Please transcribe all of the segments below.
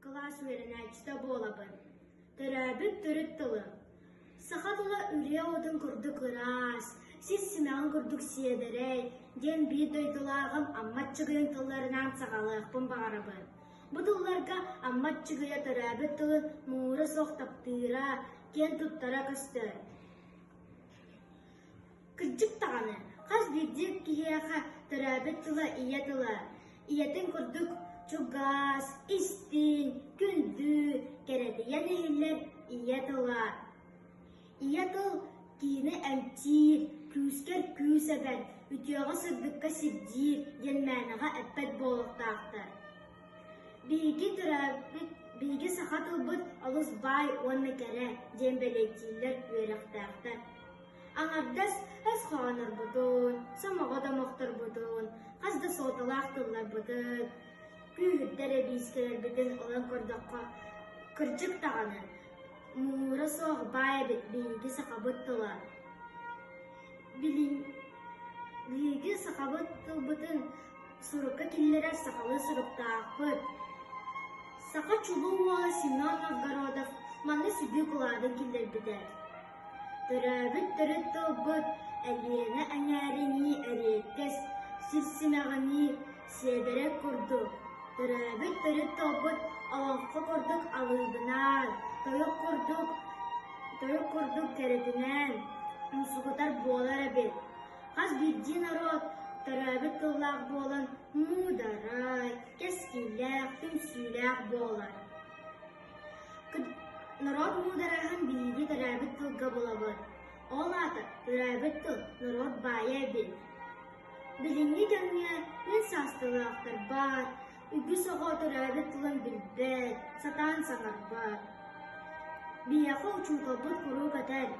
Кылаас үөрэнээччитэ буолабын. Төрөөбүт төрүт тылым. Саха тыла үрүө отун курдук ыраас, сис симэҕин курдук сиэдэрэй диэн биир дойдулааҕым Аммат Чыгыйын тылларынаан саҕалыахпын баҕарабын. Бу тылларга Аммат Чыгыйа төрөөбүт тылын муура суох таптыыра, киэн туттара көстөр. Кырдьык даҕаны, хас биирдии киһиэхэ төрөөбүт тыла ийэ тыла, ийэтин курдук чугас, истиҥ, күндү, кэрэтийэн иһиллэр ийэ тыла. Ийэ тыл киһини эмтиир, күүскэр күүс эбэн, үтүөҕэ-сырдыкка сирдиир диэн мээнэҕэ эппэт буолуохтаахтар. Биһиги тыраабыт, биһиги саха тылбыт олус баай уонна кэрэ диэн бэлиэтииллэр үөрэхтээхтэр. Аҥардас өс хоонорбутун, сомоҕо домохторбутун, хас да суолталаах тылларбытын, күүһүрдэр эбиискэлэрбитин ылан көрдөххө, кырдьык даҕаны, муура суох баай эбит биһиги сахабыт тыла. Билиҥ биһиги сахабыт тылбытын Сурукка киллэрэр сахалыы соруктаахпыт. Саха чулуу уола Семен Новгородов манна сүдүү былаанын киллэрбитэ. Төрөөбүт төрүт тылбыт Элиэнэ эҥээринии эриэккэс, сирсимэҕинии, сиэдэрэ курдук. Төрөөбүт төрүт тылбыт олоҥхо курдук алыыбынаан, тойук курдук, тойук курдук кэрэтинээн, умсугутар буолар эбит. Хас биирдии норуот төрөөбүт тыллаах буолан муударай, кэскиллээх, түмсүүлээх буолар. Норуот муударайын биһиги төрөөбүт тылга булабыт. Ол аата төрөөбүт тыл норуот баайа эбит. Билиҥҥи кэмҥэ үс саасталаахтар баар, Үгүс оҕо төрөөбүт тылын билбэт, сатаан саҥарбат. Биһиэхэ учууталбыт куруук этэр,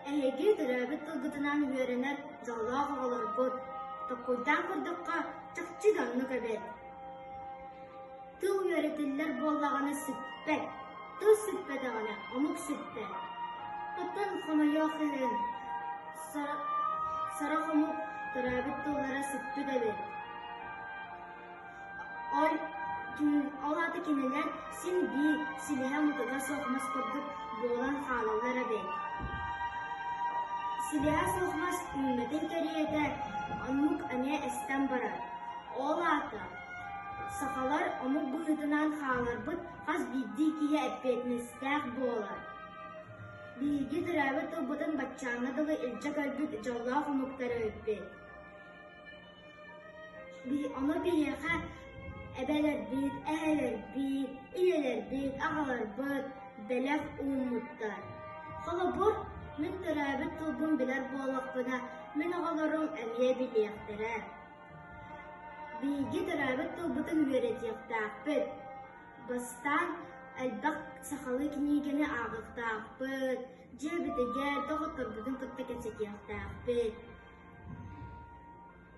эһиги төрөөбүт тылгытынан үөрэнэр дьоллоох оҕолоргут, толкуйдаан көрдөххө, чахчы да оннук эбит. Тыл үөрэтиллэр буоллаҕына сиппэт, тыл сиппэтэҕинэ омук сиппэт. Оттон хомойуох иһин, сорох омук төрөөбүт тыллара сиппит эбит. Ол аата кинилэр син биир силиһэ-мутуга суох мас курдук буолан хаалаллар эбээт Силиһэ суох мас үүммэтин кэриэтэ оннук эмиэ эстэн барар. Ол аата сахалар омук быһыытынан хааларбыт хас биирдии киһи эппиэтинэстээх буолар. Биһиги төрөөбүт тылбытын баччааҥҥа дылы илдьэ көрбүт дьоллоох омуктары өйбүт Дии ону биһиэхэ эбэлэрбит, эһэлэрбит, ийэлэрбит, аҕаларбыт бэлэх ууммуттар. Холобур, мин төрөөбүт тылбын билэр буоллахпына, мин оҕолорум эмиэ билиэхтэрэ. Биһиги төрөөбүт тылбытын үөрэтиэхтээхпит. Бастаан элбэх сахалыы кинигэни ааҕыахтаахпыт, дьиэбитигэр доҕотторбутун кытта кэпсэтиэхтээхпит.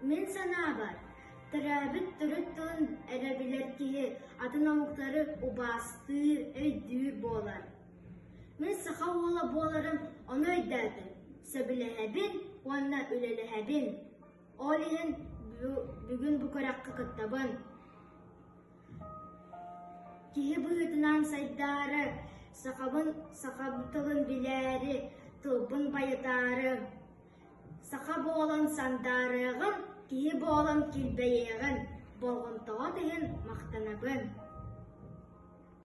Мин санаабар, төрөөбүт төрүт тылын эрэ билэр киһи атын омуктары убаастыыр, өйдүүр буолар. Мин саха уола буоларым ону өйдөөтүм, сөбүлэһэбин уонна үлэлэһэбин. Ол иһин бүгүн бу күрэххэ кыттабын. Киһи быһыытынан сайдаары, сахабын саха тылын билээри, тылбын байытаары, Саха буолан сандаарыаҕыҥ, киһи буолан килбэйиэҕин, болҕомтоҕут иһин махтанабын